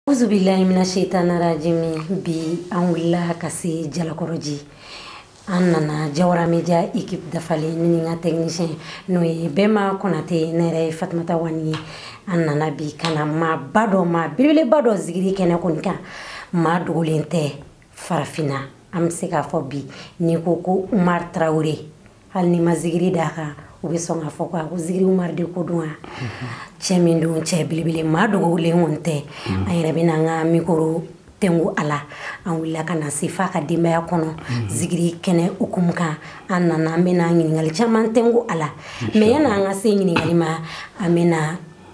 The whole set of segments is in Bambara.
Awuzubilayi mina seyitana rajimi bi an wulila ka se jalakɔrɔji an nana jawara media équipe dafalen ne ni n ka technicien n'o ye Bɛma Konate ne yɛrɛ ye Fatumata Wani ye an nana bi ka na maaba dɔ maa belebeleba dɔ zigiri kɛnɛ kɔni kan maa dogolen tɛ farafinna an bɛ se k'a fɔ bi n'i ko ko Umar Tarawele hali n'i ma zigiri d'a kan u bɛ sɔn k'a fɔ ko a ko zigiri umar de ko don wa cɛ min don cɛ belebele maa dogolen kɔni tɛ an yɛrɛ bɛ n'an ka mikoro tɛngu a la an wulila ka na se f'a ka denbaya kɔnɔ zigiri kɛnɛ hukumu kan an nana an bɛna ɲininkali caman tɛngu a la mais yan'an ka se ɲininkali ma an bɛna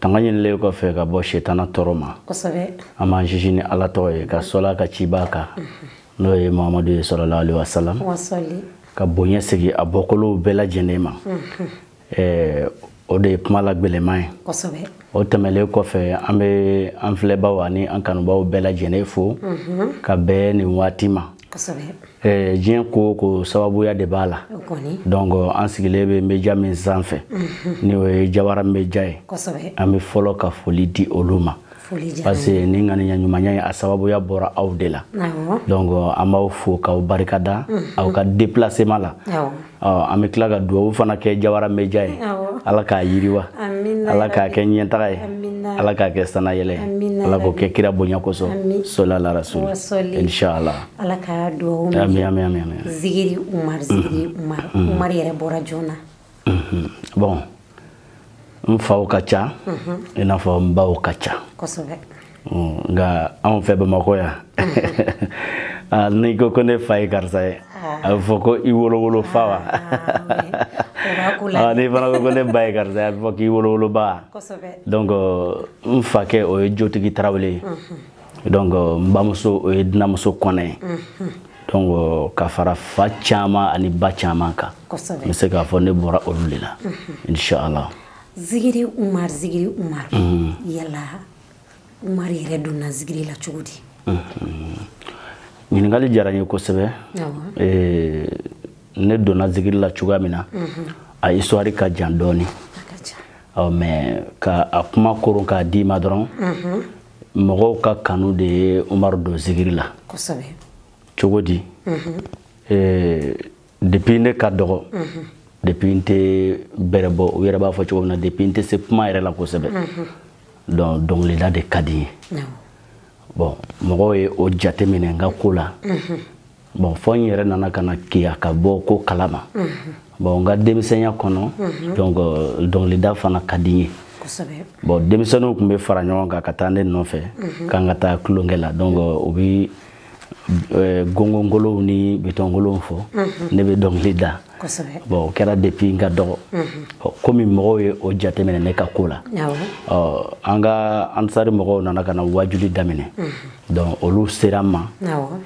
tanga ɲininen kɔfɛ ka bɔ setana tɔɔrɔ ma an b'an sinsin ni ala tɔgɔ ye ka sɔl'a ka cibaa kan n'o ye mahamadu ye sɔlala ali wasalam ka bonya sigi a bɔkolow bɛɛ lajɛlen ma o de ye kuma la gɛlɛman ye o tɛmɛlen kɔfɛ an bɛ an filɛbaw ani an kanubaw bɛɛ lajɛlen fo ka bɛn nin waati ma Eh, diɲɛ ko o ko sababuya de b'a la donc an sigilen bɛ media min sanfɛ mhm. ni o ye jawara media ye an bɛ fɔlɔ ka foli di olu ma parce que ni ŋaniya ɲumanya ye a sababuya bɔra aw de la donc an b'aw fo k'aw barikada mhm. aw ka déplacement la an bɛ tila ka dugawu fana kɛ jawara media ye ala k'a yiriwa ala k'a kɛ ɲɛtaga ye ala k'a kɛ sannayɛlɛn ala k'o kɛ kira bonya kosɔn sola la rasul inshala ala ka dugawu ami ami ami zigiri umar zigiri umar umar yɛrɛ bɔra jɔn na bon n faw ka ca i n'a fɔ n baw ka ca nka anw fɛ bamakɔ yan ah, n'i ko ko ne fa ye karisa ye ah. a bɛ fɔ ko i wolowolo fa wa ah, n'i fana ko ko ne ba ye karisa ye a bɛ fɔ k'i wolowolo ba donc n fakɛ o ye jotigi tarawele ye donc euh, n bamuso o ye dunanmuso kɔnɛ ye mhm. donc euh, ka fara fa caman ani ba caman kan n bɛ se k'a fɔ ne bɔra olu de la mhm. inshallah zigiri umar zigiri umar mhm. yala umar yɛrɛ donna zigiri la cogo di ɲininkali diyara n ye kosɛbɛ ne donna zigiri la cogoya min na a histoire ka jan dɔɔnin mais ka a kuma koron k'a d'i ma dɔrɔn mɔgɔw ka kanu de ye umaru don zigiri la cogo di mhm. eh, depuis ne ka dɔgɔ mhm. depuis n tɛ bɛrɛ bɔ u yɛrɛ b'a fɔ cogo min na depuis n tɛ se kuma yɛrɛ la kosɛbɛ mhm. donc dɔnkilida de ka di n ye bon mɔgɔw ye o jate minɛ n ka ko la bon fɔ n yɛrɛ nana ka na keya ka bɔ ko kalama bon n ka denmisɛnya kɔnɔ donc euh, dɔnkilida fana ka di n ye bon denmisɛnninw tun bɛ fara ɲɔgɔn kan ka taa ne nɔfɛ k'an ka taa tulonkɛ la donc euh, u bɛ euh, gongonkolonw ni bidɔnkolonw fɔ ne bɛ dɔnkili da bon o kɛra depuis n ka dɔgɔ komi mɔgɔw ye o jateminɛ ne ka ko la an ka ansari mɔgɔw nana ka na wajuli daminɛ donc olu sera n ma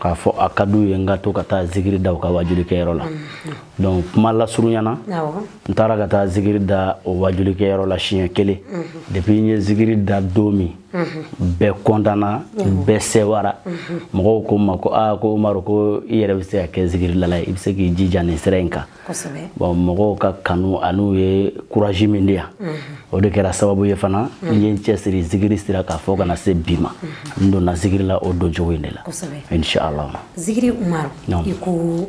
k'a fɔ a ka d'u ye n ka to ka taa zikiri da u ka wajuli kɛyɔrɔ la donc kuma lasurunya na n taara ka taa zikiri da o wajuli kɛyɔrɔ la siɲɛ kelen depuis n ye zikiri da don min bɛɛ kɔntanna bɛɛ sɛwara mɔgɔw ko n ma ko aa ko umaru ko i yɛrɛ bɛ se ka kɛ zikirilala ye i bɛ se k'i jija nin sira in kan bon mɔgɔw ka kanu an'u ye kurazi min di yan o de kɛra sababu ye fana n ye n cɛsiri zikiri sira kan fɔ ka na se bi ma n donna zikiri la o doncogo in de la inshallah zikiri umaru i ko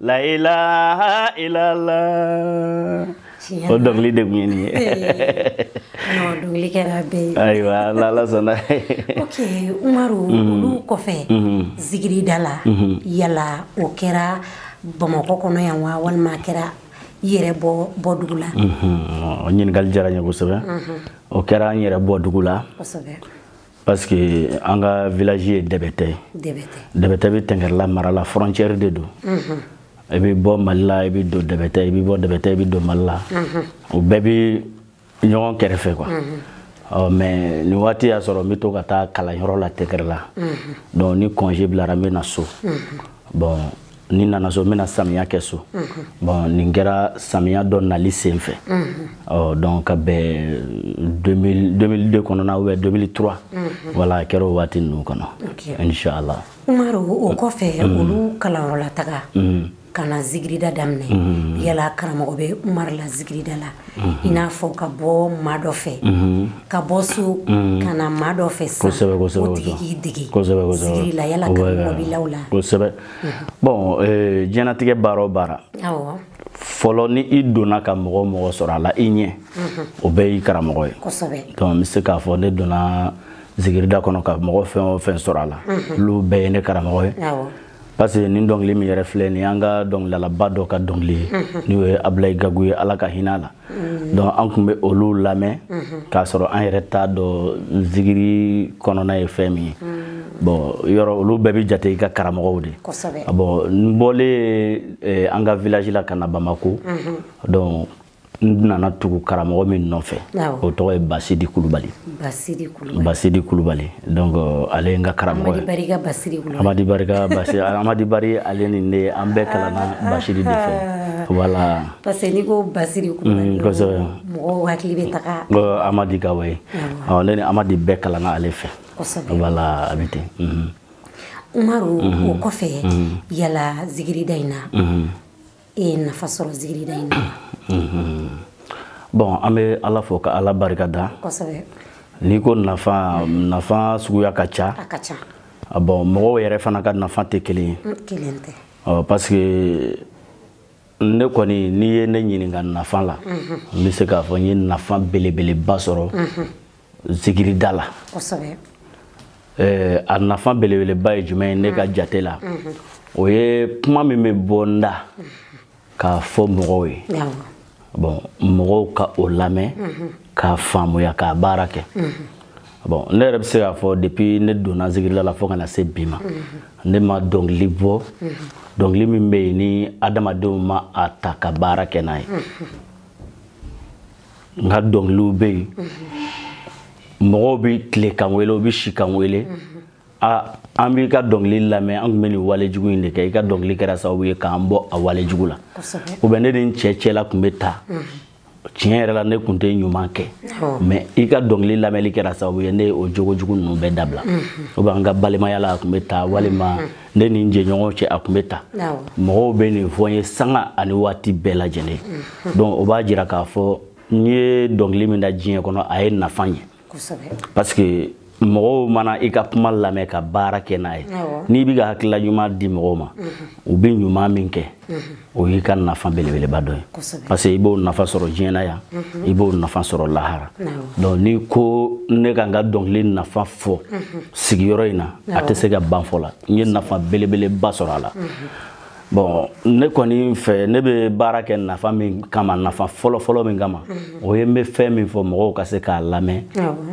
la ilaha illallah o dɔnkili de tun ye nin ye dɔnkili kɛra bɛɛ ye ayiwa n'ala sɔnna ok umaru mhm. olu kɔfɛ mhm. zigirida la mhm. yala o kɛra bamakɔ kɔnɔ yan wa walima a kɛra i yɛrɛ bɔdugu la ɲininkali diyara n ye kosɛbɛ o kɛra n yɛrɛ bɔdugu la parce que an ka village ye dɛbɛtɛ ye dɛbɛtɛ bɛ tɛngɛrɛla mara la frontière de don mhm. i bɛ bɔ mali la i bɛ don dɛbɛtɛ i bɛ bɔ dɛbɛtɛ i bɛ don mali la mhm. u bɛɛ bɛ ɲɔgɔn kɛrɛfɛ quoi mhm. ɔ mais nin waati y'a sɔrɔ n bɛ to ka taa kalanyɔrɔ la tɛngɛrɛla donc ni congé bilara n bɛ na so bon ni n nana so n bɛna samiya kɛ so mhm. bon nin kɛra samiya dɔ nali sen fɛ mhm. ɔ donc ka bɛn 2002 kɔnɔna ou bien 2003 voilà a kɛra o waati ninnu kɔnɔ inchallah umaru o kɔfɛ mm. olu kalanyɔrɔla taga mm. ka na zigirida daminɛ mm. yala karamɔgɔ bɛ umaru la zigirida la mm-hmm. i n'a fɔ ka bɔ maa dɔ fɛ mm-hmm. ka bɔ so ka na maa dɔ fɛ sisan o tigi k'i dege zigiri la yala karamɔgɔ b'i la o la bon euh, diɲɛnatigɛ baara o baara fɔlɔ ni i donna ka mɔgɔ o mɔgɔ sɔrɔ a la i ɲɛ mhm. o bɛɛ y'i karamɔgɔ ye donc n bɛ se k'a fɔ ne donna zigirida kɔnɔ ka mɔgɔ fɛn o fɛn sɔrɔ a la mhm. olu bɛɛ ye ne karamɔgɔ ye parce que nin dɔnkili min yɛrɛ filɛ nin y'an ka dɔnkililalaba dɔ ka dɔnkili ye mhm. n'o ye abulayi gagu ye ala ka hinɛ a la Mm. donc an tun bɛ olu lamɛn mm-hmm. k'a sɔrɔ an yɛrɛ t'a dɔn zigiri kɔnɔna ye fɛn min ye mm. bɔn yɔrɔ olu bɛɛ bɛ jate i ka karamɔgɔw de ah, bɔn n bɔlen eh, an ka village la ka na bamako mm-hmm. donc n nana tugu karamɔgɔ min nɔfɛ o tɔgɔ ye basidi kulubali basidi kulubali donc euh, ale ye n ka karamɔgɔ ye amadi barika basidi amadi bari ale ni ne an bɛɛ kalanna basidi de fɛ ah. voilà parce que n'i ko basidi kulubali mɔgɔw hakili bɛ taga amadi gawo ye ne ni amadi bɛɛ kalanna ale fɛ voilà a bɛ ten umaru o kɔfɛ yala zigirida in na e ye nafa sɔrɔ zigirida in na bɔn an bɛ ala fo ka ala barika da n'i ko nafa nafa suguya ka ca bɔn mɔgɔw yɛrɛ fana ka nafa tɛ kelen ye parce que ne kɔni n'i ye ne ɲininka nafa la n bɛ se k'a fɔ n ye nafa belebeleba sɔrɔ zikirida la a nafa belebeleba ye jumɛn ye ne ka jate la o ye kuma min bɛ bɔ n da k'a fɔ mɔgɔw ye bɔn mɔgɔw ka o lamɛn k'a faamuya k'a baara kɛ bon ne yɛrɛ bɛ se k'a fɔ depuis ne donna zikirida la fo ka na se bi ma ne ma dɔnkili bɔ dɔnkili min bɛ yen ni adamadenw ma a ta ka baara kɛ n'a ye n ka dɔnkiliw bɛ yen mɔgɔw bɛ tile ka n wele u bɛ si ka n wele a an b'i ka dɔnkili lamɛn an tun bɛ nin wale jugu in de kɛ i ka dɔnkili kɛra sababu ye k'an bɔ a wale jugu la ou bien ne ni n cɛ cɛla tun bɛ tan tiɲɛ yɛrɛ la ne kun tɛ ɲuman kɛ mais i ka dɔnkili lamɛnli kɛra sababu ye ne ye o jogo jugu ninnu bɛɛ dabila ou bien an ka balimaya la a tun bɛ tan walima ne ni n jɛɲɔgɔn cɛ a tun bɛ tan mɔgɔw bɛ nin fɔ n ye sanga ani waati bɛɛ lajɛlen donc o b'a jira k'a fɔ n ye dɔnkili min da diɲɛ kɔnɔ a ye nafa ye parce que mɔgɔw mana i ka kuma lamɛn ka baara kɛ n'a ye n'i bɛ ka hakilila ɲuman di mɔgɔw ma u bɛ ɲuman min kɛ o y'i ka nafa belebeleba dɔ ye parce que i b'o nafa sɔrɔ diɲɛ na yan i b'o nafa sɔrɔ lahara donc n'i ko ne ka n ka dɔnkili nafa fɔ sigiyɔrɔ in na a tɛ se ka ban fɔ la n ye nafa belebeleba sɔrɔ a la bon ne kɔni fɛ ne bɛ baara kɛ nafa min kama nafa fɔlɔfɔlɔ min kama mhm. o ye n bɛ fɛn min fɔ mɔgɔw ka se k'a lamɛn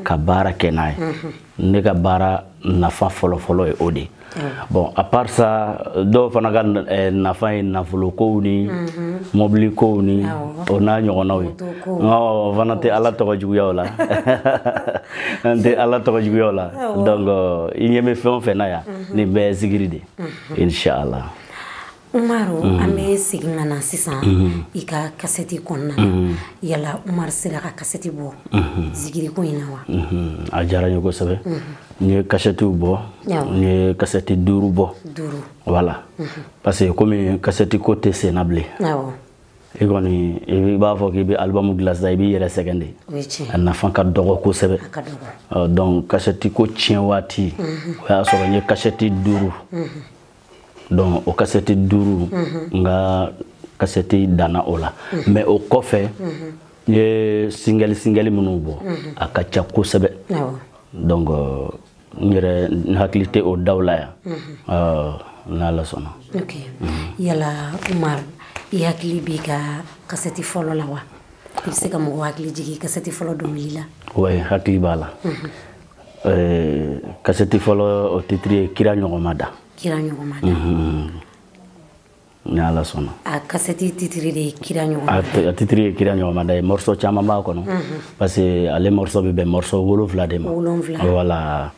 ka baara kɛ n'a ye mhm. ne ka baara nafa fɔlɔfɔlɔ ye o de ye bon à part ça dɔw fana ka eh, nafa ye nafolo kow ni mhm. mɔbili kow ni o n'a ɲɔgɔnnaw ye o fana tɛ ala tɔgɔ juguya o la n tɛ ala tɔgɔ juguya o la donc i ɲɛ bɛ fɛn o fɛn na yan nin bɛɛ ye zikiri de inshallah Umaru mhm. an bɛ segin ka na sisan mhm. i ka kasɛti kɔnɔna na mhm. yala Umaru sera ka kasɛti bɔ zikiriko in na wa a diyara n ye kosɛbɛ n ye kasɛtiw bɔ n ye kasɛti duuru bɔ duuru voilà parce que komi kasɛti ko tɛ senna bilen i kɔni i b'a fɔ k'i bɛ album dilan sisan i b'i yɛrɛ sɛgɛn de a nafa ka dɔgɔ kosɛbɛ donc kasɛti ko tiɲɛ waati mhm. o y'a sɔrɔ n ye kasɛti duuru mhm. donc o kasɛti duuru mhm. n ka kasɛti danna o la mais o kɔfɛ n ye singɛli singɛli minnu bɔ a ka ca kosɛbɛ donc euh, n yɛrɛ n hakili tɛ o daw la yan n'ala sɔnna ok yala umar i hakili b'i ka kasɛti fɔlɔ la wa i bɛ se ka mɔgɔ hakili jigin kasɛti fɔlɔ dɔnkili la wa hakili b'a la kasɛti fɔlɔ o titiri ye kira ɲɔgɔn ma da kira ɲɔgɔn ma da ni ala sɔnna a kasɛti titiri de ye kira ɲɔgɔn a titiri ye kira ɲɔgɔn ma da ye morceau caman b'a kɔnɔ parce que ale morceau bɛ bɛn morceau wolonfila de ma wolonfila voilà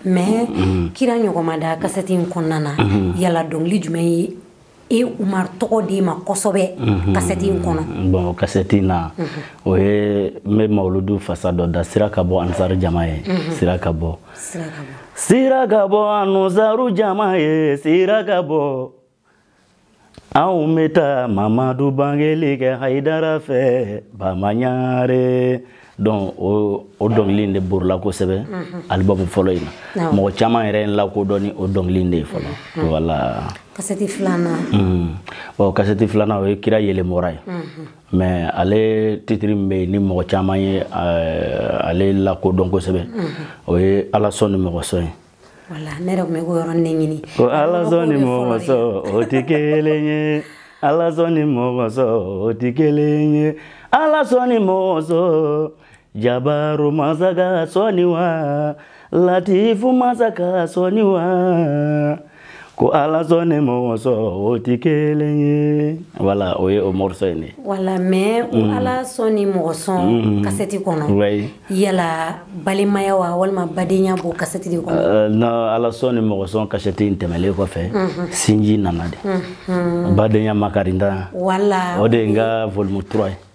mais kira ɲɔgɔn ma da kasɛti in kɔnɔna na yala dɔnkili jumɛn ye e umar tɔgɔ d'e ma kosɛbɛ kasɛti in kɔnɔ bon kasɛti in na o ye n bɛ mawuludu fasa dɔ da sira ka bɔ ansar jama ye sira ka bɔ sira ka bɔ ansaru jama ye sira ka bɔ anw bɛ taa mamadu bangeli kɛ hayidara fɛ bama ɲare donc o o dɔnkili in de borila kosɛbɛ mhm. album fɔlɔ in na mɔgɔ caman yɛrɛ ye n lakodɔn ni o dɔnkili in de ye fɔlɔ mhm. voilà kasɛti filanan mhm. bon kasɛti filanan o ye kira yeelen bɔra ye mais ale titiri min bɛ yen ni mɔgɔ caman ye euh, ale lakodɔn kosɛbɛ mhm. o ye ala sɔn ni mɔgɔ sɔn ye voilà ne yɛrɛ tun bɛ k'o yɔrɔ de ɲini ko ala sɔn ni mɔgɔ sɔn o tɛ kelen ye ala sɔn ni mɔgɔ sɔn o tɛ kelen ye ala sɔn ni mɔgɔ sɔn jabaru mansa ka sɔnni wa latifu mansa ka sɔnni wa ko ala sɔn ni mɔgɔ sɔn o tɛ kelen ye voilà o ye o morceau in de ye. voilà mais o mm. ala sɔn ni mɔgɔ sɔn mm. kasɛti kɔnɔ. oui yala balimaya wa walima badenya b'o kasɛti de kɔnɔ. Euh, non ala sɔn ni mɔgɔ sɔn kasɛti in tɛmɛlen kɔfɛ. Mhm. sinji nana de. Mhm. badenya makarinda. voilà o de ye n ka volume 3 ye.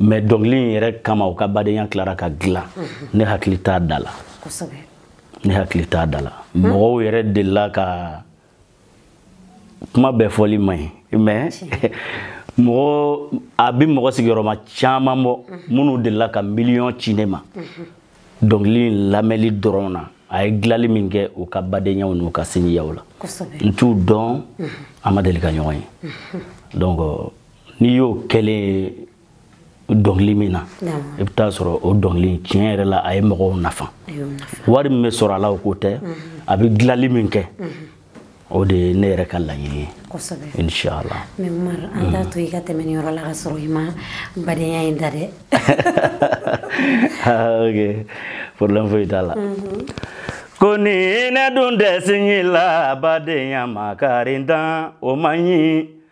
mais dɔnkili in yɛrɛ kama u ka badenya tilara ka dilan ne hakili t'a da la ne hakili t'a da la mɔgɔw yɛrɛ delila ka kuma bɛɛ fɔli man ɲi mais mɔgɔ a bɛ mɔgɔ sigiyɔrɔma caman bɔ minnu delila ka miliyɔn ci ne ma dɔnkili in lamɛnli dɔrɔn na a ye dilanli min kɛ u ka badenyaw n'u ka sinjiyaw la n t'u dɔn an ma deli ka ɲɔgɔn ye donc n'i y'o kɛlen ye dɔnkili min na i bɛ taa sɔrɔ o dɔnkili tiɲɛ yɛrɛ la a ye mɔgɔw nafa wari min bɛ sɔrɔ a la o ko tɛ mhm. a bɛ dilanli min kɛ mhm. o de ye ne yɛrɛ ka laɲini ye inshala mais umaru an mhm. t'a to i ka tɛmɛ nin yɔrɔ la ka sɔrɔ i ma badenya in da dɛ ah, ok problème foyi t'a la ko ni ne dun dɛsɛla badenya makarintan o man ɲi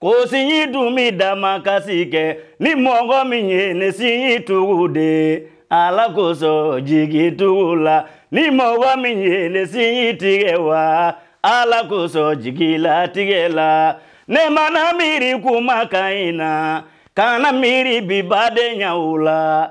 Ko sinji dun bɛ dama kasi kɛ ni mɔgɔ min ye ne sinji tugu de ye ala k'o sɔn jigitugu la ni mɔgɔ min ye ne sinji tigɛ wa ala k'o sɔn jigilatigɛ la ne mana miiri kuma ka ɲi na kana miiri bi badenyaw la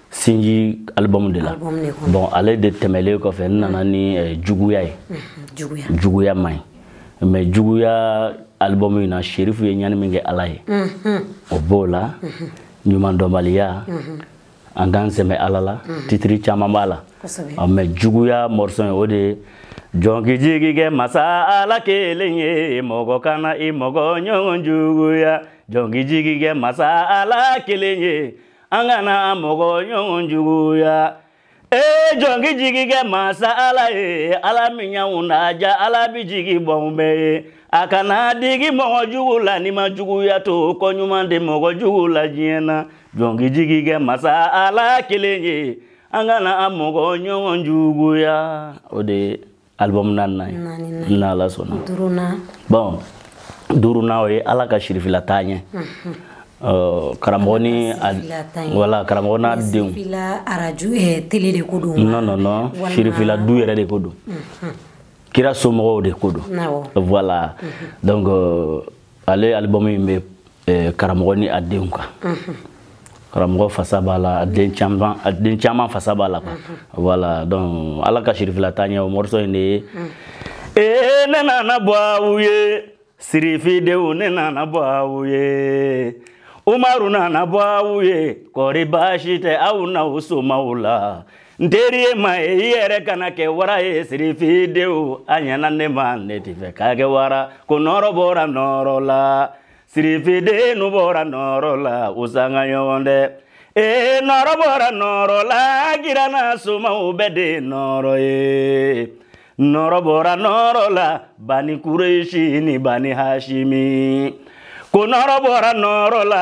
sinji album de la bon ale de tɛmɛlen kɔfɛ n nana ni eh, juguya ye mhm, juguya man ɲi mais juguya album in na sherifu ye ɲani min kɛ ala ye mhm. o b'o la mhm. ɲumandɔnbaliya an k'an sɛmɛ ala la titiri caman b'a la mais juguya morceau ye o de ye jɔn k'i jigi kɛ masa ala kelen ye mɔgɔ kana i mɔgɔ ɲɔgɔn juguya jɔn k'i jigi kɛ masa ala kelen ye an kana an mɔgɔ ɲɔgɔn juguya ee jɔn k'i jigi kɛ mansa ala ye ala min y'anw dan jaa ala bi jigi b'anw bɛɛ ye a kana digi mɔgɔ jugu la n'i ma juguya to ko ɲuman tɛ mɔgɔ jugu la diɲɛ na jɔn k'i jigi kɛ mansa ala kelen ye an kana an mɔgɔ ɲɔgɔn juguya o de ye album naaninan ye n'ala sɔnna album duurunan o ye ala ka sirifila taa ɲɛ karamɔgɔ ni wala karamɔgɔ n'a denw kelen de ko don non non non sirifila du yɛrɛ de ko don kira somɔgɔw de ko don voilà donc ale album in bɛ eh, karamɔgɔ ni a denw kan mhm. karamɔgɔ fasa b'a la a den caman a den caman fasa b'a la quoi mhm. voilà donc ala ka sirifila taa ɲɛ o morceau in de ye mhm. ee ne nana bɔ aw ye sirifidenw ne nana bɔ aw ye umaru nana bɔ aw ye kɔri baasi tɛ aw n'aw somaw la n teri ye ma ye i yɛrɛ kana kɛ wara ye sirifidenw a ɲɛna ne ma ne tɛ fɛ ka kɛ wara ko nɔɔrɔ bɔra nɔɔrɔ la sirifidenw bɔra nɔɔrɔ la o sanga ɲɔgɔn tɛ ee nɔɔrɔ bɔra nɔɔrɔ la kira n'a somaw bɛɛ de ye nɔɔrɔ ye nɔɔrɔ bɔra nɔɔrɔ la bani kuresi ni bani hasimi ko nɔɔrɔ bɔra nɔɔrɔ la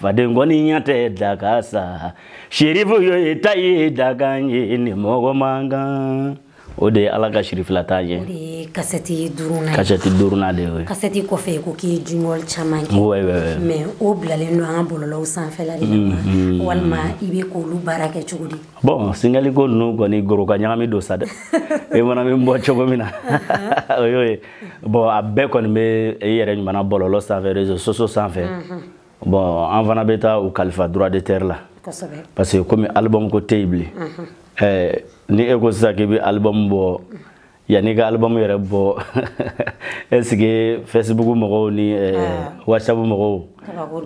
faden koniya tɛ dakan sa sirifu yo e ta ye dakan ye ni mɔgɔ man kan o de ye ala ka sirifila ta ye kasɛti duurunan kasɛti duurunan de ye kasɛti kɔfɛ ko k'i ye jumɛn caman kɛ oui, oui, oui. mais o bilalen don an ka bɔlɔlɔw sanfɛla de la mm, mm, walima i bɛ k'olu baara kɛ cogo di bon singɛliko ninnu kɔni goroka ɲagami don sa dɛ e mana min bɔ cogo min na o y'o ye bɔn a bɛɛ kɔni bɛ i yɛrɛ ɲuman na bɔlɔlɔ sanfɛ réseaux sociaux sanfɛ bɔn an fana bɛ taa u kalifa droit d'auteur la parce que komi album ko tɛ yen bilen ɛɛ ni e ko sisan k'i bɛ album bɔ yanni i ka album yɛrɛ bɔ est ce que facebook mɔgɔw ni whatsapp mɔgɔw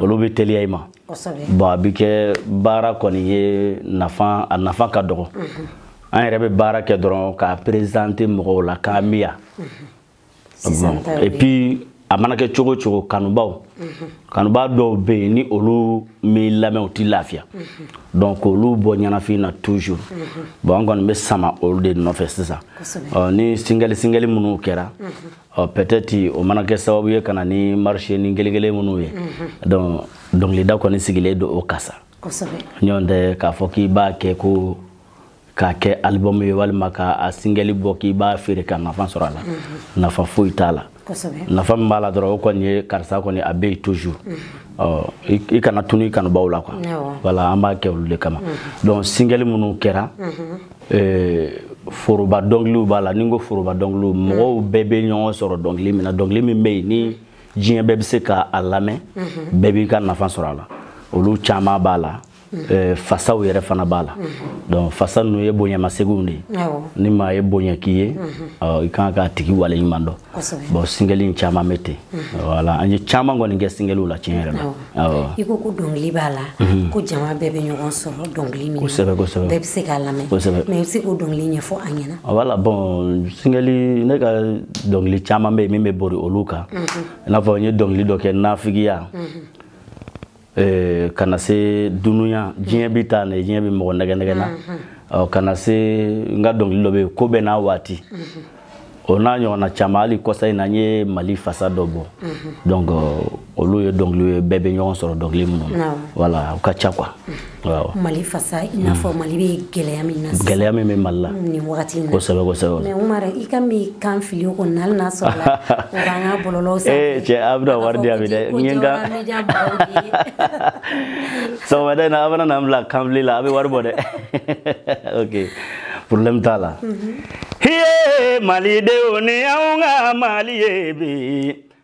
olu bɛ teliya i ma bɔn a bɛ kɛ baara kɔni ye nafa a nafa ka dɔgɔ an yɛrɛ bɛ baara kɛ dɔrɔn k'a présenter mɔgɔw la k'a miya et puis a mana kɛ cogo o cogo kanubaw kanubaa dɔw bɛ yen ni olu m'i lamɛn u tɛ lafiya donc olu b'o ɲɛnafin na toujours bon an kɔni bɛ sama olu de nɔfɛ sisan ni singɛli singɛli minnu kɛra peut-être o mana kɛ sababu ye ka na ni marché ni gelegele minnu ye donc dɔnkilida kɔni sigilen don o kan sa nɔntɛ k'a fɔ k'i b'a kɛ ko k'a kɛ album ye walima ka a singɛli bɔ k'i b'a feere ka nafa sɔrɔ a la mhm. nafa foyi t'a la nafa min b'a la dɔrɔn o kɔni ye karisa kɔni a bɛ yen toujours mhm. i kana tunun i kanubaw la quoi voilà an b'a kɛ olu de kama mhm. donc singɛli minnu kɛra eh, foroba dɔnkiliw b'a la ni n ko foroba dɔnkiliw mɔgɔw bɛɛ bɛ ɲɔgɔn sɔrɔ dɔnkili min na dɔnkili min bɛ yen ni diɲɛ bɛɛ bɛ se ka a lamɛn bɛɛ b'i ka nafa sɔrɔ a la olu caman b'a la Eh, fasaw yɛrɛ fana b'a la donc fasa ninnu ye bonyamasegin de ye ni maa ye bonya k'i ye i ka kan k'a tigi wale ɲuman dɔn bon singɛli in caman bɛ ten voilà an ye caman kɔni kɛ singɛliw la tiɲɛ yɛrɛ la i ko ko dɔnkili b'a la mhm. ko jama bɛɛ bɛ ɲɔgɔn sɔrɔ dɔnkili min kosɛbɛ kosɛbɛ bɛɛ bɛ se k'a lamɛn kosɛbɛ mais i bɛ se k'o dɔnkili ɲɛfɔ an ɲɛna voilà bon singɛli ne ka dɔnkili caman bɛ yen min bɛ bori olu kan mhm. i n'a fɔ n ye dɔnkili dɔ kɛ nafigiya mhm. eh, ka na se dunuya diɲɛ bɛ taa na diɲɛ bɛ mɔgɔ nɛgɛn nɛgɛn na mhm. ka na se n ka dɔnkili dɔ bɛ yen ko bɛɛ n'a waati mhm. o n'a ɲɔgɔnna caman hali kɔsa in na n ye mali fasa dɔ bɔ mhm. donc olu ye dɔnkiliw ye bɛɛ bɛ ɲɔgɔn sɔrɔ dɔnkili minnu na voilà u ka ca quoi mali fasa i n'a fɔ mm. mali bɛ gɛlɛya min na gɛlɛya min bɛ mali la mm, nin wagati na kosɛbɛ kosɛbɛ mais Umaru i ka min kan fili o kɔni hali n'a sɔrɔ la o b'an ka bɔlɔlɔw sanfɛ ee cɛ a bɛna wari di a bi dɛ n ye n ka sɔgɔmada in na a bɛna na n bila kanfili la a bɛ wari bɔ dɛ ok problème t'a la mm-hmm. hiye malidenw ni anw ka mali ye bi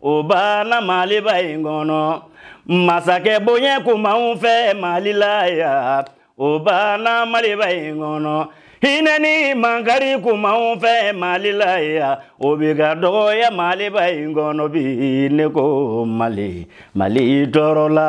o banna maliba in kɔnɔ masakɛ bonya kun b'anw fɛ mali la yan o banna maliba in kɔnɔ hinɛ ni mankari kun b'anw fɛ mali la yan o bɛ ka dɔgɔya maliba in kɔnɔ bi ne ko mali mali tɔɔrɔla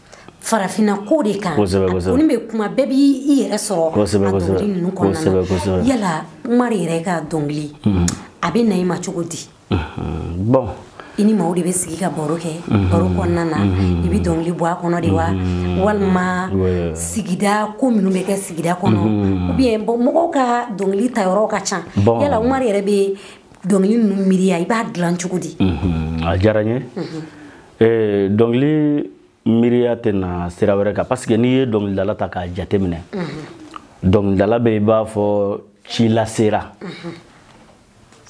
farafinna ko de kan kɔni bɛ kuma bɛɛ b'i yɛrɛ sɔrɔ a dɔnkili ninnu kɔnɔna na yala Umaru yɛrɛ ka dɔnkili mhm. a bɛ na i ma cogo di mhm. bon i ni maaw de bɛ sigi ka baro kɛ mhm. baro kɔnɔna na i bɛ dɔnkili bɔ a kɔnɔ de wa walima sigida ko minnu bɛ kɛ sigida kɔnɔ ou bien bon mɔgɔw ka dɔnkili tayɔrɔw ka ca yala Umaru yɛrɛ bɛ dɔnkili ninnu miiriya i b'a dilan cogo di a diyara n ye ee, dɔnkili miiriya tɛ na sira wɛrɛ kan parce que n'i ye dɔnkilidala ta k'a jateminɛ dɔnkilidala bɛ i b'a fɔ ci lasera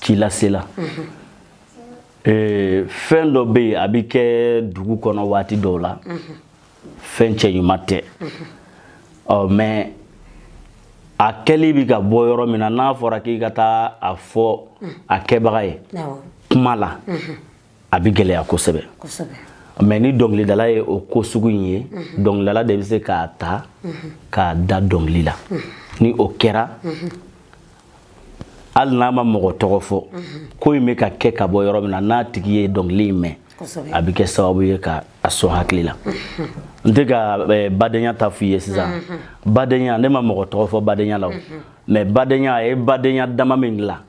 ci lasela ee, fɛn dɔ bɛ yen a bɛ kɛ dugu kɔnɔ waati dɔw la fɛn cɛɲuman tɛ ɔ mais a kɛli bɛ ka bɔ yɔrɔ min na n'a fɔra k'i ka taa a fɔ a kɛbaga ye kuma la a bɛ gɛlɛya kosɛbɛ mais ni dɔnkilidala ye o ko sugu in ye mhm. dɔnkilidala de bɛ se k'a ta mhm. k'a da dɔnkili la mhm. ni o kɛra hali n'a ma mɔgɔ tɔgɔ fɔ ko in bɛ ka kɛ ka bɔ yɔrɔ min na n'a tigi ye dɔnkili in mɛn a bɛ kɛ sababu ye ka a sɔn hakili la n tɛ ka eh, badenya ta f'i ye sisan badenya ne ma mɔgɔ tɔgɔ fɔ badenya la o mais badenya a ye badenya dama min dilan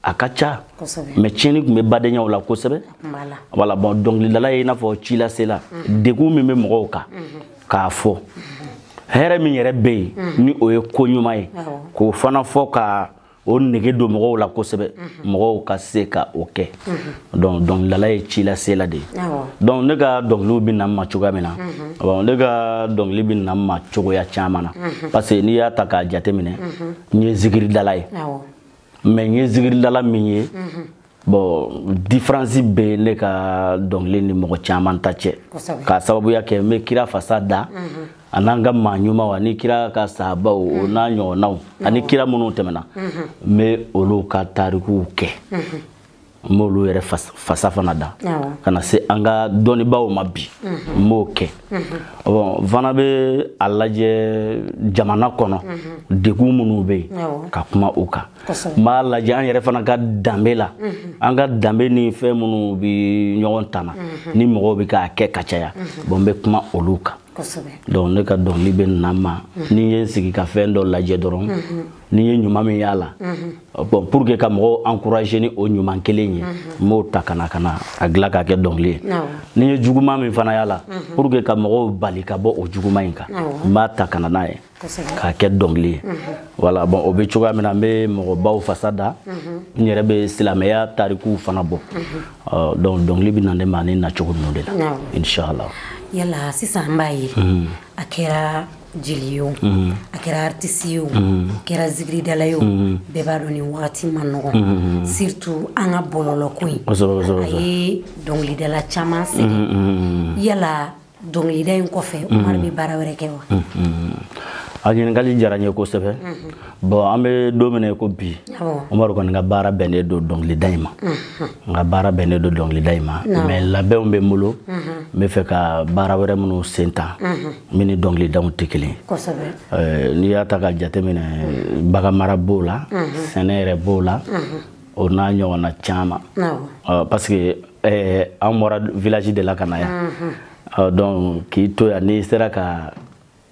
a ka ca mais tiɲɛni tun bɛ badenyaw la kosɛbɛ voilà bon dɔnkilidala ye i n'a fɔ ci lasela mhm. degun min bɛ mɔgɔw kan mhm. k'a fɔ mhm. hɛrɛ min yɛrɛ bɛ yen ni o ye ko ɲuman ye k'o fana fɔ ka o nege don mɔgɔw la kosɛbɛ mɔgɔw ka se ka o kɛ donc dɔnkilidala ye ci lasela de ye donc ne ka dɔnkiliw bɛ na n ma cogoya min na ne ka dɔnkili bɛ na n ma cogoya caman na parce que n'i y'a ta k'a jateminɛ n ye zikiridala ye mais n ye zigiridala min ye bon différence bɛ ne ka dɔnkili ni mɔgɔ caman ta cɛ k'a sababuya kɛ n bɛ kira fasa da a n'an ka maa ɲumanw ani kira ka sahabaw o n'a ɲɔgɔnnaw ani kira minnu tɛmɛna n bɛ olu ka tarikuw kɛ n b'olu yɛrɛ fasa fana da ka na se an ka dɔnnibaaw ma bi mhm. n b'o kɛ mhm. bon n fana bɛ a lajɛ jamana kɔnɔ mhm. degun minnu bɛ yen ka kuma o kan n b'a lajɛ an yɛrɛ fana ka danbe la an ka danbe ni fɛn minnu bɛ ɲɔgɔn tana ni mɔgɔw bɛ k'a kɛ ka caya bon n bɛ kuma olu kan donc ne ka dɔnkili bɛ na n ma ni n ye n sigi ka fɛn dɔ lajɛ dɔrɔn ni n ye ɲuman min y'a la bon pour que ka mɔgɔw encourager ni o ɲuman kelen ye n b'o ta ka na ka na a dilan k'a kɛ dɔnkili ye ni n ye juguman min fana y'a la pour que ka mɔgɔw bali ka bɔ o juguman in kan n b'a ta ka na n'a ye k'a kɛ dɔnkili ye voilà bon o bɛ cogoya min na n bɛ mɔgɔbaw fasa da n yɛrɛ bɛ silamɛya tarikuw fana bɔ donc dɔnkili bɛ na ne ma ne na cogo ninnu de la inshallah yala sisan n b'a ye a kɛra jeli ye o mhm. a kɛra artisi ye o mhm. a kɛra zigiridala ye o mhm. bɛɛ b'a dɔn nin wagati man nɔgɔn surtout an ka bɔlɔlɔ ko in a ye dɔnkilidala caman sɛgɛn yala dɔnkilida in kɔfɛ umaru bɛ baara wɛrɛ kɛ wa a ɲininkali diyara n ye kosɛbɛ bon an bɛ don min na i ko bi umaru kɔni ka baara bɛnnen don dɔnkilida in ma n ka baara bɛnnen don dɔnkilida in ma mais labɛnw bɛ n bolo n b'a fɛ ka baara wɛrɛ minnu sen ta min ni dɔnkilidaw tɛ kelen n'i y'a ta ka jateminɛ baganmara b'o la sɛnɛ yɛrɛ b'o la o n'a ɲɔgɔnna caman parce que an bɔra village de la ka na yan donc k'i to yan n'i sera ka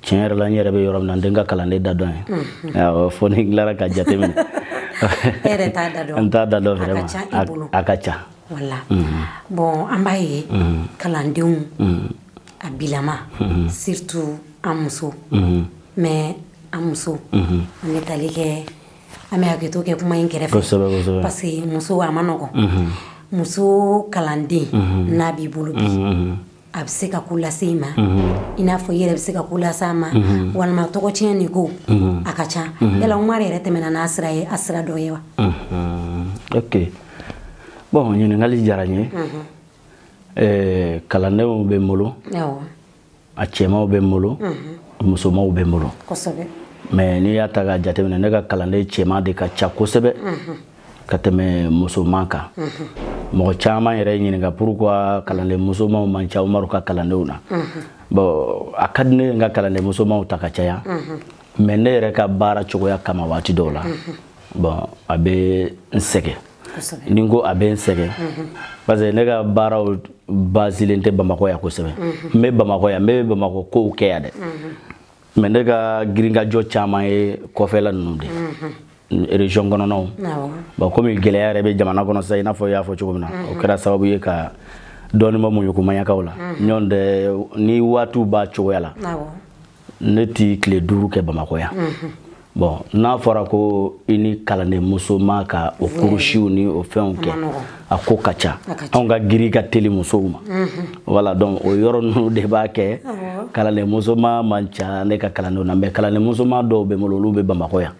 tiɲɛ yɛrɛ la n yɛrɛ bɛ yɔrɔ min na n tɛ n ka kalanden da dɔn ye fo ni n tilara ka jate minɛ n t'a da dɔn vraiment a ka ca voilà bon an b'a ye kalandenw a bilama surtout an muso mais an muso an bɛ tali kɛ an bɛ hakɛto kɛ kuma in kɛrɛfɛ kosɛbɛ kosɛbɛ parce que muso a man nɔgɔn muso kalanden n'a b'i bolo bi a bɛ se ka ko lase i ma i n'a fɔ i yɛrɛ bɛ se ka ko lase a ma walima tɔgɔtiɲɛni ko a ka ca yala umaru yɛrɛ tɛmɛna n'a sira ye a sira dɔ ye wa ok bon ɲininkali diyara n ye kalandenw bɛ n bolo a cɛmanw bɛ n bolo musomanw bɛ n bolo mais n'i y'a ta ka jateminɛ ne ka kalanden cɛman de ka ca kosɛbɛ ka tɛmɛ musoman kan mɔgɔ caman yɛrɛ ye n ɲininka pourquoi kalanden musomanw man ca umaru ka kalandenw na bon a ka di n ye n ka kalanden musomanw ta ka caya mais ne yɛrɛ ka baara cogoya kama waati dɔw la bon a bɛ n sɛgɛn ni n ko a bɛ n sɛgɛn parce que ne ka baaraw basilen tɛ bamakɔ yan kosɛbɛ n bɛ bamakɔ yan n bɛ bamakɔ kow kɛ yan dɛ mɛ ne ka girinkajɔ caman ye kɔfɛla ninnu de mhm. région kɔnɔnaw bon komi gɛlɛya yɛrɛ bɛ jamana kɔnɔ sisan i n'a fɔ i y'a fɔ cogo min na mhm. o kɛra sababu ye ka dɔɔnin bɔ muɲukumaɲakaw la mhm. nɔntɛ ni waatiw b'a cogoya la ne ti tile duuru kɛ bamakɔ yan bɔn n'a fɔra ko i ni kalanden musoma ka o kurusiw ni o fɛnw kɛ a ko ka ca anw ka girin ka teli musow ma voilà donc o yɔrɔ ninnu de b'a kɛ kalanden musoma man ca ne ka kalandenw na mɛ kalanden musoma dɔw bɛ n bolo olu bɛ bamakɔ yan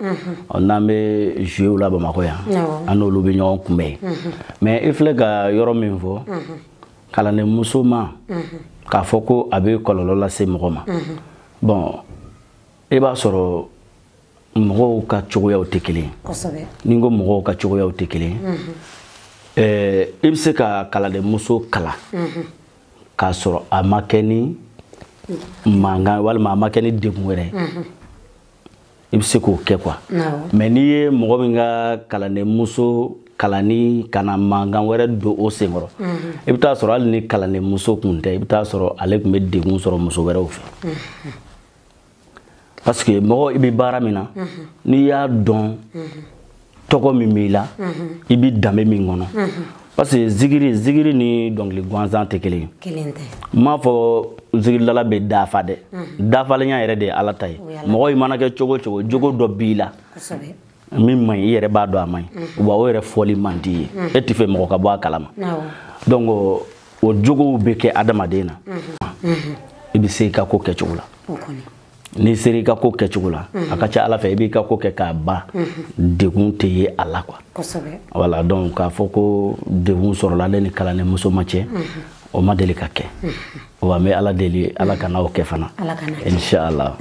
n'an bɛ jouer la bamakɔ yan an n'olu bɛ ɲɔgɔn kunbɛ yen mɛ i filɛ ka yɔrɔ min fɔ kalanden musoma k'a fɔ ko a bɛ kɔlɔlɔ lase mɔgɔ ma bɔn e b'a sɔrɔ mɔgɔw ka cogoyaw tɛ kelen ye ni n ko mɔgɔw ka cogoyaw tɛ kelen ye i bɛ se ka kalandenmuso kalan k'a sɔrɔ a ma kɛ ni mankan walima a ma kɛ ni degun wɛrɛ ye i bɛ se k'o kɛ quoi mɛ n'i ye mɔgɔ min ka kalandenmuso kalanni ka na mankan wɛrɛ don o senkɔrɔ i bɛ taa sɔrɔ hali ni kalandenmuso tun tɛ i bɛ taa sɔrɔ ale tun bɛ degun sɔrɔ muso wɛrɛw fɛ parce que mɔgɔ i bɛ baara min na n'i y'a dɔn tɔgɔ min b'i la i bɛ danbe min kɔnɔ parce que zigiri zigiri ni dɔnkili gansan tɛ kelen ye kelen tɛ n m'a fɔ zigirilala bɛ dafa dɛ dafalenya yɛrɛ de ye ala ta ye mɔgɔ i mana kɛ cogo o cogo jogo dɔ b'i la min man ɲi i yɛrɛ b'a dɔn a man ɲi wa o yɛrɛ fɔli man di i ye e t'a fɛ mɔgɔ ka bɔ a kalama donc o jogow bɛ kɛ adamaden na i bɛ se i ka ko kɛcogo la n'i sera i ka ko kɛcogo la a ka ca ala fɛ i b'i ka ko kɛ k'a ban degun tɛ ye a la quoi voilà donc k'a fɔ ko degun sɔrɔla ne ni kalanden musoma cɛ o ma deli ka kɛ wa n bɛ ala deli ala kana o kɛ fana inshallah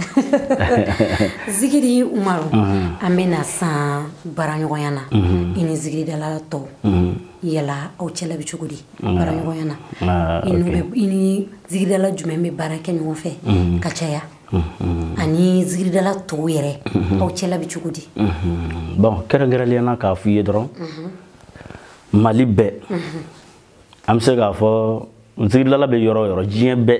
zikiri umaru mhm. an bɛ na sisan baaraɲɔgɔnya na mhm. i ni zikiridala tɔw mhm. yala aw cɛla bɛ cogo di baaraɲɔgɔnya na ah, i ni zikiridala jumɛn bɛ baara kɛ ɲɔgɔn fɛ ka caya ani zikiridala tɔw yɛrɛ aw cɛla bɛ cogo di bɔn kɛrɛnkɛrɛnnenya na k'a fɔ i ye dɔrɔn mali bɛɛ an bɛ se k'a fɔ zigirilala bɛ yɔrɔ o yɔrɔ diɲɛ bɛɛ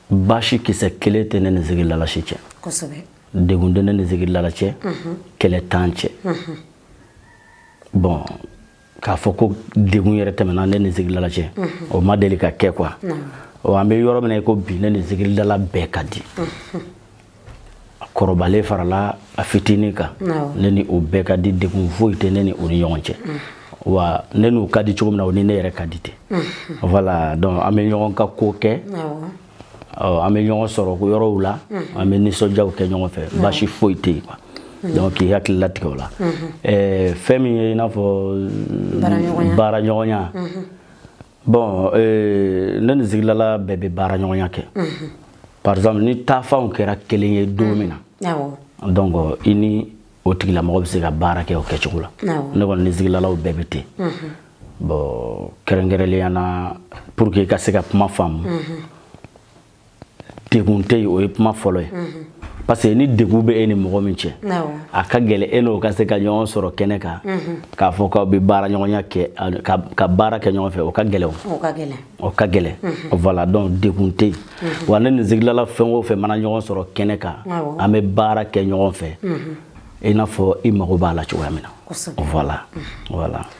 baasi kisɛ kelen tɛ ne ni zigirilala si cɛ degun tɛ ne ni zigirilala cɛ kɛlɛ t'an cɛ bɔn k'a fɔ ko degun yɛrɛ tɛmɛna ne ni zigirilala cɛ o ma deli ka kɛ quoi an bɛ yɔrɔ min na i ko bi ne ni zigirilala bɛɛ ka di a kɔrɔbalen farala a fitinin kan ne ni o bɛɛ ka di degun foyi tɛ ne ni o ni ɲɔgɔn cɛ wa ne n'u ka di cogo min na o ni ne yɛrɛ ka di ten voilà donc an bɛ ɲɔgɔn ka ko kɛ an bɛ ɲɔgɔn sɔrɔ ko yɔrɔw la an bɛ nisɔndiyaw kɛ ɲɔgɔn fɛ baasi foyi tɛ yen quoi donc k'i hakili latigɛ o la fɛn min ye i n'a fɔ baara ɲɔgɔnya bon euh, ne ni zigilala bɛɛ bɛ baara ɲɔgɔnya kɛ mhm. par exemple ni taafanw kɛra kelen ye don min na mhm. donc euh, i ni o tigilamɔgɔ bɛ se ka baara kɛ o kɛcogo la ne kɔni ni zigilalaw bɛɛ bɛ ten mhm. bon kɛrɛnkɛrɛnnenya na pour que i ka se ka kuma faamu degun tɛ yen o ye kuma fɔlɔ ye mhm. parce que ni degun bɛ e ni mɔgɔ min cɛ a ka gɛlɛ e n'o ka se ka ɲɔgɔn sɔrɔ kɛnɛ kan mhm. k'a fɔ k'aw bɛ baara ɲɔgɔnya kɛ ka baara kɛ ɲɔgɔn fɛ o ka gɛlɛ o o ka gɛlɛ o ka gɛlɛ mhm. voilà donc degun tɛ yen wa ne ni zigilala fɛn o fɛn mana ɲɔgɔn sɔrɔ kɛnɛ kan an bɛ baara kɛ ɲɔgɔn fɛ i n'a fɔ i mago b'a la cogoya min na voilà voilà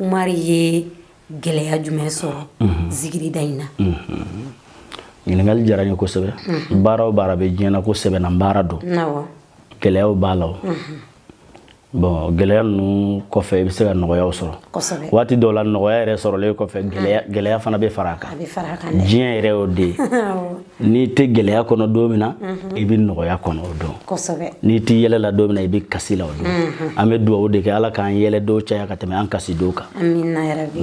Umaru ye gɛlɛya jumɛn sɔrɔ mhm. zigirida in na mhm. ɲininkali diyara n ye kosɛbɛ mhm. baara o baara bɛ diɲɛ na ko sɛbɛnna baara don gɛlɛyaw b'a la o bon gɛlɛya ninnu kɔfɛ i bɛ se ka nɔgɔyaw sɔrɔ waati dɔw la nɔgɔya yɛrɛ sɔrɔlen kɔfɛ gɛlɛya fana bɛ fara a kan diɲɛ yɛrɛ y'o de ye n'i tɛ gɛlɛya kɔnɔ don min na mhm. i bɛ nɔgɔya kɔnɔ o don n'i tɛ yɛlɛ la don min na i bɛ kasi la o don mhm. an bɛ dugawu de kɛ ala k'an yɛlɛ donw caya ka tɛmɛ an kasi donw kan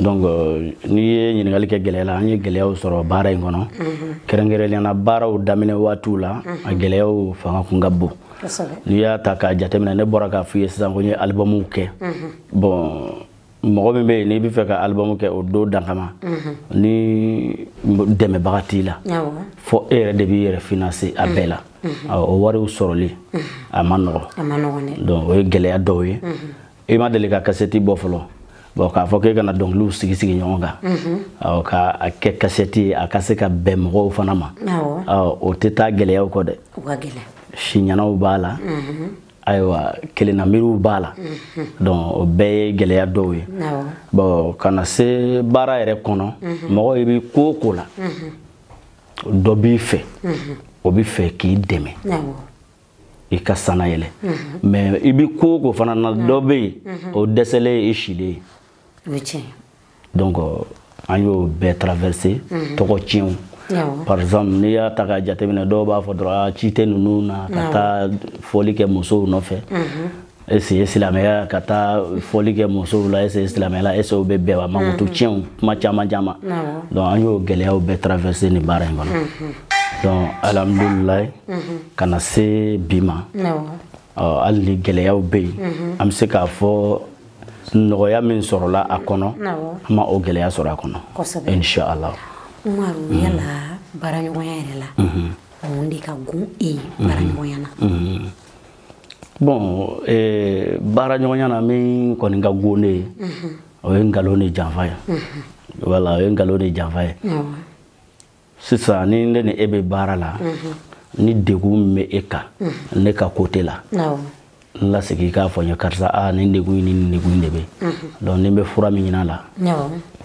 donc euh, n'i ye ɲininkali kɛ gɛlɛya la an ye gɛlɛyaw sɔrɔ baara in kɔnɔ mhm. kɛrɛnkɛrɛnnenya la baaraw daminɛ waatiw la a gɛlɛyaw fanga kun ka bon n'i y'a ta k'a jateminɛ ne bɔra k'a f'i ye sisan ko n ye alibamuw kɛ bon mɔgɔ min bɛ yen n'i bɛ fɛ ka alibamu kɛ o don dan kama mhm. ni dɛmɛbaga t'i la fɔ e yɛrɛ de b'i yɛrɛ financer a bɛɛ la mhm. Mhm. o wariw sɔrɔli a man nɔgɔn donc o ye gɛlɛya dɔw ye i ma deli ka kasɛti bɔ fɔlɔ bon k'a fɔ k'e ka na dɔnkiliw sigi sigi ɲɔgɔn kan mhm. ɔ ka a kɛ kasɛti ye a ka se ka bɛn mɔgɔw fana ma ɔ o tɛ taa gɛlɛyaw kɔ dɛ siɲɛnaw b'a la mhm. ayiwa kelenna miiriw b'a la mhm. donc o bɛɛ ye gɛlɛya dɔw ye bon ka na se baara yɛrɛ kɔnɔ mhm. mɔgɔ i bɛ ko o ko la mhm. dɔ b'i fɛ o bɛ fɛ k'i dɛmɛ i ka sanna yɛlɛn mais i bɛ ko o ko fana na dɔ bɛ yen o dɛsɛlen ye i selen ye donc an y'o bɛɛ traverser mhm. tɔgɔ tiɲɛw par exemple n'i y'a ta k'a jateminɛ dɔw b'a fɔ dɔrɔn a ci tɛ ninnu na ka taa fɔli kɛ musow nɔfɛ mhm. est-ce ye silamɛya ka taa fɔli kɛ musow la est-ce ye silamɛya la est-ce o bɛ bɛn wa mankutu mhm. tiɲɛw kuma caman caman donc an y'o gɛlɛyaw bɛɛ traverser nin baara in kɔnɔ donc alhamdulilayi ka na se bi ma hali ni gɛlɛyaw bɛ yen an bɛ se k'a fɔ nɔgɔya min sɔrɔla a kɔnɔ an ma o gɛlɛya sɔrɔ a kɔnɔ inshallah umaru mm. yala baaraɲɔgɔnya yɛrɛ la mm-hmm. mun de ka gun e ye mm-hmm. baaraɲɔgɔnya na mm-hmm. bon eh, baaraɲɔgɔnya na min kɔni ka gun ne ye o ye nkalon ni janfa ye wala o ye nkalon ni janfa ye sisan ni ne ni e bɛ baara la ni degun min bɛ e kan ne ka côté la n lasigi k'a fɔ n ye karisa a nin degun in ni nin degun in de bɛ donc ni n bɛ fura min ɲini a la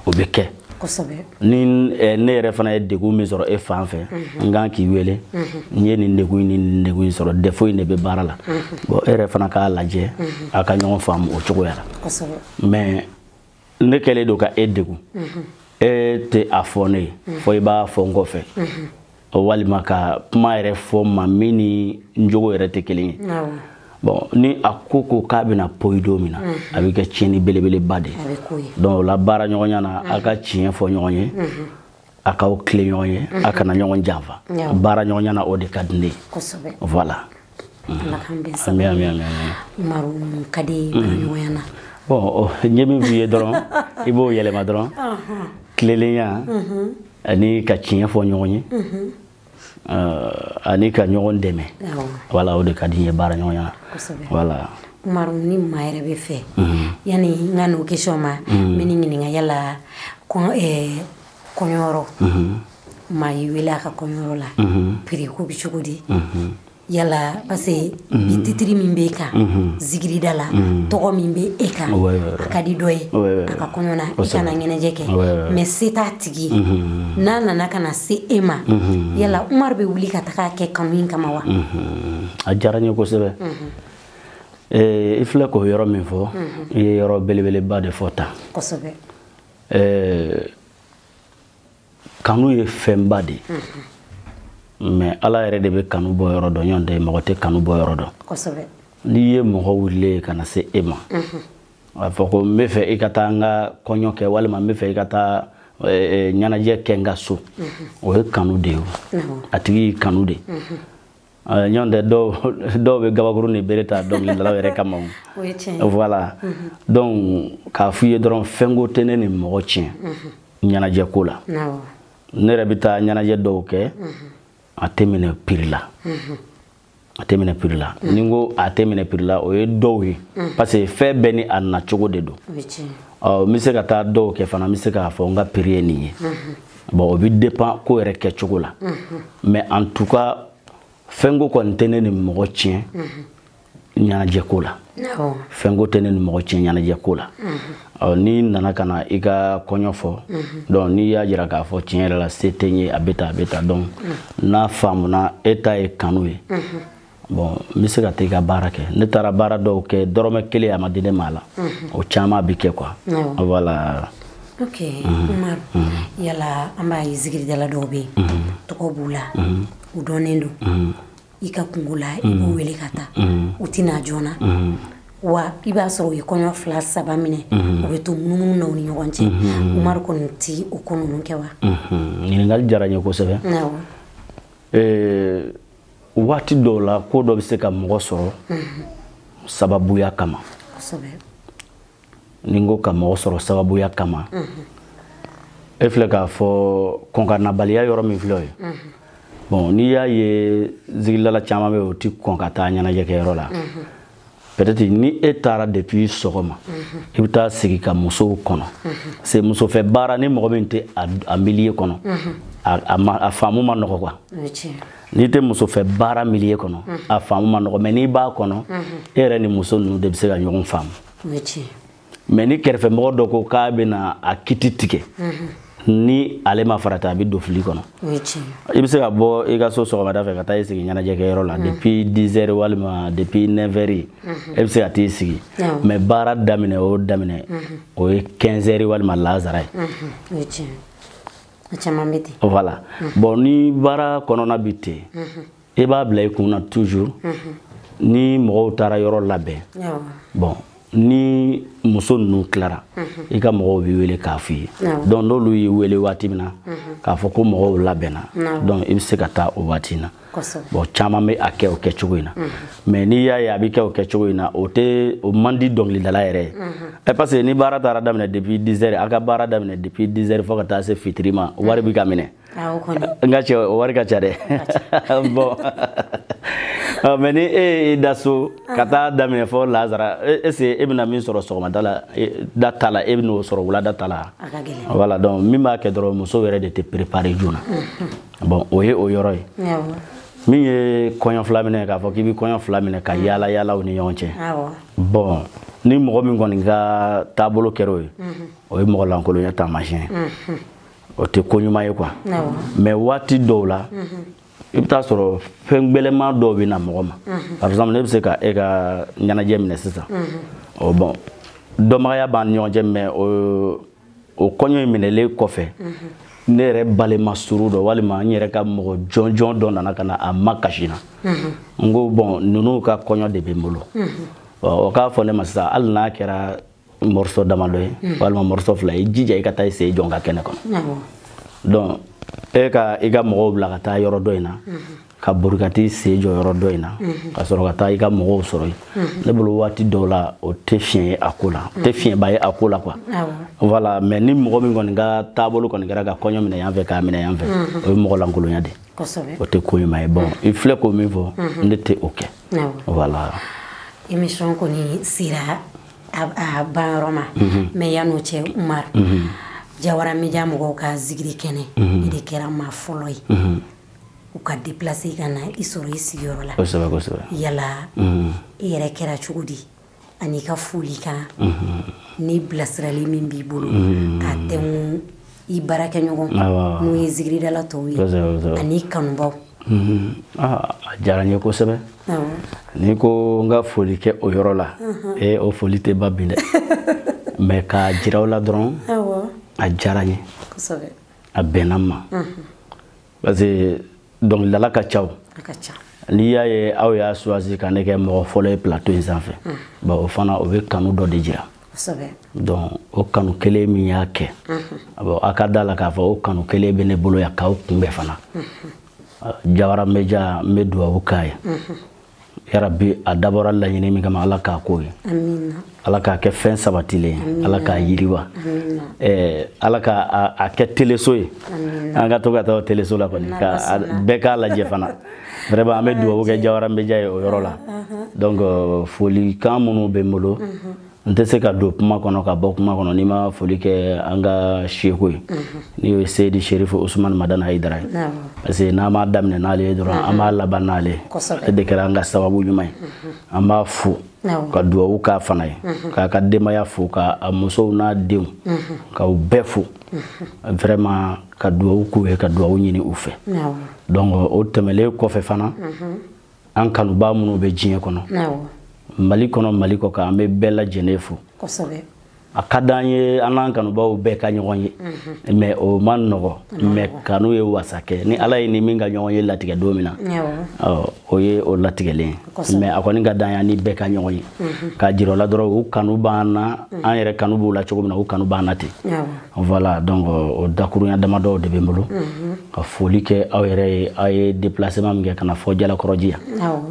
o bɛ kɛ ni ne yɛrɛ fana ye degun min sɔrɔ e fan fɛ n kan k'i wele n ye nin degun in ni nin degun in sɔrɔ défaut in de bɛ baara la bon e yɛrɛ fana k'a lajɛ a ka ɲɔgɔn faamu o cogoya la mais ne kɛlen don ka e degun mhm. e tɛ a fɔ ne ye mhm. fɔ i b'a fɔ n kɔfɛ mhm. walima ka kuma yɛrɛ fɔ n ma min ni n jogo yɛrɛ tɛ kelen ye bon ni a ko ko k'a bɛna poyi don min na a bɛ kɛ tiɲɛni belebeleba de ye donc o la baara ɲɔgɔnya na a ka tiɲɛ fɔ ɲɔgɔn ye a k'aw tilen ɲɔgɔn ye a mhm. kana ɲɔgɔn janfa baara ɲɔgɔnya na o de ka di ne ye voilà mhm. ami ami ami maru ka di mhm. baaraɲɔgɔnya na bon n ye min f'i ye dɔrɔn i b'o yɛlɛma dɔrɔn tilelenya ani ka tiɲɛ fɔ ɲɔgɔn ye ani ka ɲɔgɔn dɛmɛ wala o de ka di n ye baara ɲɔgɔnya la wala umaru ni maa yɛrɛ bɛ fɛ yanni n ka n'o question ma n bɛ n'i ɲininka yala kɔɲɔyɔrɔ ni maa y'i wele a ka kɔɲɔyɔrɔ la prix ko bɛ cogo di yala parce que mhm. bi titre min bɛ e kan mhm. zikirida la mhm. tɔgɔ min bɛ e kan a ka di dɔ ye a ka kɔɲɔ na i ka na ɲɛnajɛ kɛ mais se t'a tigi n'a nana ka na se e ma yala umaru bɛ wuli ka taga a kɛ kanu in kama wa a diyara n ye kosɛbɛ i filɛ k'o yɔrɔ min fɔ i ye yɔrɔ belebeleba de fɔ tan kanu ye fɛnba de ye mm-hmm. mais ala yɛrɛ de bɛ kanu bɔ yɔrɔ dɔn jɔn tɛ mɔgɔ tɛ kanu bɔ yɔrɔ dɔn n'i ye mɔgɔ wulilen ye ka na se e ma mm-hmm. a fɔ ko n bɛ fɛ i ka taa n ka kɔɲɔ kɛ walima n bɛ fɛ i ka taa ɲɛnajɛ kɛ n ka so mm-hmm. o ye kanu de ye a tigi y'i kanu de ɲɔgɔn tɛ dɔw bɛ gabakurun ni bere ta dɔnkilidalaw yɛrɛ kama voilà mhm. donc k'a f'u ye dɔrɔn fɛnko tɛ ne ni mɔgɔ tiɲɛ mhm. ɲɛnajɛ ko la ne yɛrɛ bɛ taa ɲɛnajɛ dɔw kɛ mhm. a tɛ minɛ piri la a tɛ minɛ piri la ni n ko a tɛ minɛ piri la o ye dɔw ye parce que fɛn bɛɛ ni a nacogo de don n bɛ se ka taa dɔw kɛ fana n bɛ se k'a fɔ n ka piri ye nin ye bon o bɛ dépend ko yɛrɛ kɛcogo la mais en tout cas fɛnko kɔni tɛ ne ni mɔgɔ tiɲɛ ɲɛnajɛ ko la fɛnko tɛ ne ni mɔgɔ tiɲɛ ɲɛnajɛ ko la n'i nana ka na i ka kɔɲɔ fɔ donc n'i y'a jira k'a fɔ tiɲɛ yɛrɛ la se tɛ n ye a bɛ tan a bɛ tan donc n'a faamuna e ta ye kanu ye bon n bɛ se ka taa i ka baara kɛ ne taara baara dɔw kɛ dɔrɔmɛ kelen a ma di ne ma a la o caman bɛ kɛ quoi voilà ok umaru yala an b'a ye zikiridala dɔw bɛ yen tɔgɔ b'u la u dɔnnen don i ka kunko la i b'u wele ka taa u tɛ na joona wa i b'a sɔrɔ u ye kɔɲɔ fila saba minɛ u bɛ to munumunu na u ni ɲɔgɔn cɛ umaru kɔni tɛ o ko ninnu kɛ wa ɲininkali diyara n ye kosɛbɛ waati dɔw la ko dɔ bɛ se ka mɔgɔ sɔrɔ sababuya kama ni n ko ka mɔgɔ sɔrɔ sababuya kama e filɛ k'a fɔ kɔnkanabaliya yɔrɔ min filɛ o ye bon n'i y'a ye zikiridala caman bɛ u tɛ kɔn ka taa ɲɛnajɛkɛyɔrɔ la peut-être ni e taara depuis sɔgɔma mhm. i bɛ taa sigi ka musow kɔnɔ mhm. parce que muso fɛ baara ni mɔgɔ min tɛ a milieu kɔnɔ mhm. a faamu man nɔgɔ quoi n'i tɛ muso fɛ baara milieu kɔnɔ a faamu man nɔgɔ mais n'i b'a kɔnɔ e yɛrɛ ni muso ninnu de bɛ se ka ɲɔgɔn faamu mais ni kɛrɛfɛmɔgɔ dɔ ko k'a bɛna a kiti tigɛ ni ale ma farati a bɛ don fili kɔnɔ i bɛ se ka bɔ i ka so sɔgɔmada fɛ ka taa i sigi ɲɛnajɛkɛyɔrɔ la depuis 10 heures walima depuis 9 heures e bɛ se ka t'i sigi mais baara daminɛ o daminɛ o ye 15 heures walima laansara ye voilà bon ni baara kɔnɔna bɛ ten i b'a bila i kun na toujours mhm. ni mɔgɔw taara yɔrɔ labɛn bon ni muso ninnu tilara mhm. i ka mɔgɔw b'i wele k'a f'i ye donc n'olu y'i wele waati min na mhm. k'a fɔ ko mɔgɔw labɛnna donc i bɛ se ka taa o waati na bon caman bɛ a kɛ o kɛcogo in na mais n'i y'a ye a bɛ kɛ o kɛcogo in na o tɛ o man di dɔnkilidala yɛrɛ ye ɛ parce que ni baara taara daminɛ depuis 10 heures a ka baara daminɛ depuis 10 heures fo ka taa se fitiri ma wari bɛ ka minɛ. nka cɛ o wari ka ca dɛ bon mais ni e y'i da so ka taa daminɛ fɔ lazara est-ce e bɛna min sɔrɔ sɔgɔmada la da ta la e bɛn'o sɔrɔ wulada ta la voilà donc min b'a kɛ dɔrɔn muso yɛrɛ de tɛ préparé joona bon o ye o yɔrɔ ye min ye kɔɲɔ fila minɛ k'a fɔ k'i bɛ kɔɲɔ fila minɛ ka yaala yaala u ni ɲɔgɔn cɛ bon ni mɔgɔ min kɔni ka taabolo kɛra o ye o ye mɔgɔ lankolonya taamasiyɛn o tɛ ko ɲuman ye quoi mais waati dɔw la i bɛ taa sɔrɔ fɛn gbɛlɛma dɔw bɛ na mɔgɔ ma par exemple ne bɛ se ka e ka ɲɛnajɛ minɛ sisan ɔ bon dɔnbagaya b'an ni ɲɔgɔn cɛ mais o o kɔɲɔ in minɛlen kɔfɛ ne yɛrɛ balima surun dɔ walima n yɛrɛ ka mɔgɔ jɔnjɔn dɔ nana ka na a makasi n na n ko bon ninnu ka kɔɲɔ de bɛ n bolo o k'a fɔ ne ma sisan hali n'a kɛra morceau damadɔ ye hmm. walima morceau fila ye jija i ka taa i sen jɔ n ka kɛnɛ kɔnɔ donc e ka i ka mɔgɔw bila ka taa yɔrɔ dɔ in na hmm. ka bori ka t'i sen jɔ yɔrɔ dɔ in na hmm. ka sɔrɔ ka taa i ka mɔgɔw sɔrɔ yen ne bolo waati dɔw la o tɛ fiɲɛ ye a ko la o tɛ fiɲɛba ye a ko la quoi voilà mais ni mɔgɔ min kɔni ka taabolo kɔni kɛra ka kɔɲɔ minɛ yan fɛ k'a minɛ yan fɛ o ye mɔgɔ lankolonya de o tɛ ko ɲuman ye bon i filɛ k'o min fɔ ne tɛ o kɛ voilà émission kɔni sera a ban yɔrɔ ma mhm. mais yann'o cɛ umar mhm. jawara media mɔgɔw ka zigiri kɛnɛ mhm. i de kɛra maa fɔlɔ ye u ka deplace ka na i sɔrɔ i sigiyɔrɔ la yala i yɛrɛ kɛra cogo di an'i ka folikan ni bilasirali min b'i bolo ka taa i baarakɛɲɔgɔn n'o ye zigiridala tɔw ye an'i kanubaaw mhm. ah, a diyara n ye kosɛbɛ n'i ko n ka foli kɛ o yɔrɔ la mhm. ee eh, o foli tɛ ban bi dɛ mais k'a jira aw la dɔrɔn a diyara n ye a bɛnna n ma mhm. parce que dɔnkilidala ka ca o n'i y'a ye aw y'a choisi ka ne kɛ mɔgɔ fɔlɔ ye plateau in sanfɛ mm. bon o fana o bɛ kanu dɔ de jira donc o kanu kelen min y'a kɛ mm-hmm. bon a ka d'a la k'a fɔ o kanu kelen bɛ ne bolo yan k'aw kunbɛn fana mm-hmm. jawara media n bɛ dubabu k'a ye mm-hmm. yarabi a dabɔra laɲini min kama ala k'a k'o ye ala k'a kɛ fɛn sabatilen ye ala k'a yiriwa eh, ala ka a kɛ teleso ye an ka to ka taa teleso la kɔni bɛɛ k'a lajɛ fana vraiment an bɛ dugawu kɛ jawara media ye o yɔrɔ la donc euh, folikan minnu bɛ n bolo n tɛ se ka don kuma kɔnɔ ka bɔ kuma kɔnɔ n'i ma foli kɛ an ka seku ye n'o ye seyidi serifu usumani madani hayidara ye parce que n'an b'a daminɛ n'ale ye dɔrɔn an b'a laban n'ale ye ale de kɛra an ka sababu ɲuman ye an b'a fo ka duwawu k'a fana ye k'a ka denbaya fo ka a musow n'a denw ka u bɛɛ fo vraiment ka duwawu k'u ye ka duwawu ɲini u fɛ donc o tɛmɛlen kɔfɛ fana an kanubaa minnu bɛ diɲɛ kɔnɔ mali kɔnɔ mali kɔkan an bɛ bɛɛ lajɛlen fo a ka di an ye an n'an kanubaaw bɛɛ ka ɲɔgɔn ye mhm. mais o man nɔgɔ mais kanu ye wasa kɛ ni ala ye ni min ka ɲɔgɔn ye latigɛ don min na o ye o latigɛlen ye a kɔni ka di an ye ni bɛɛ ka ɲɔgɔn ye mhm. k'a jir'u la dɔrɔn u kanu b'an na mhm. an yɛrɛ kanu b'u la cogo min na u kanu b'an na ten voilà donc euh, o dakurunya damadɔw de bɛ n bolo mhm. ka foli kɛ aw yɛrɛ ye aw ye déplacement min kɛ ka na fo jalakɔrɔji yan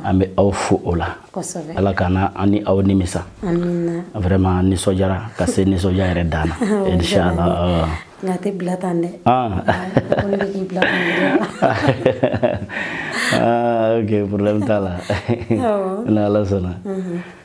an bɛ aw fo o la ala kana an ni aw nimisa vraiment nisɔndiyara ka se nisɔndiya yɛrɛ dan na inchallah nka a tɛ bila tan dɛ ko ne bɛ k'i bila tan dɛ ok problème t'a la n'ala sɔnna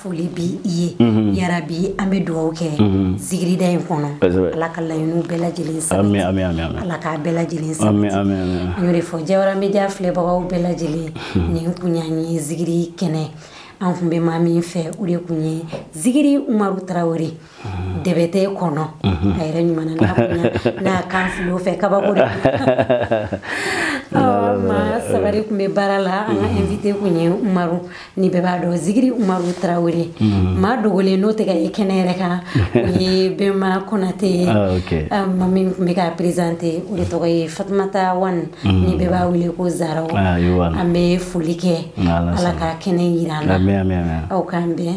foli b'i ye mhm. yarabi an bɛ duwawu kɛ mhm. zigirida in kɔnɔ ala ka laɲiniw bɛɛ lajɛlen sabati ala k'a bɛɛ lajɛlen sabati an y'o de fɔ jawara media filɛbagaw bɛɛ lajɛlen mhm. nin kun y'an ye zigiri kɛnɛ an kun bɛ maa min fɛ o de kun ye zigiri umaru tarawele debete kɔnɔ a yɛrɛ ɲuman n'a kan filo fɛ kabako de ma sabari kun bɛ baara la an ka invité kun ye umaru ni bɛɛ b'a dɔn zigiri umaru tarawele maa dogolen n'o tɛ ka ye kɛnɛ yɛrɛ kan o ye bɛnma konate ye ma min tun bɛ ka présenter o de tɔgɔ ye fatumata wan ni bɛɛ b'a wele ko zaraw an bɛ foli kɛ ala ka kɛnɛ yira an na aw k'an bɛn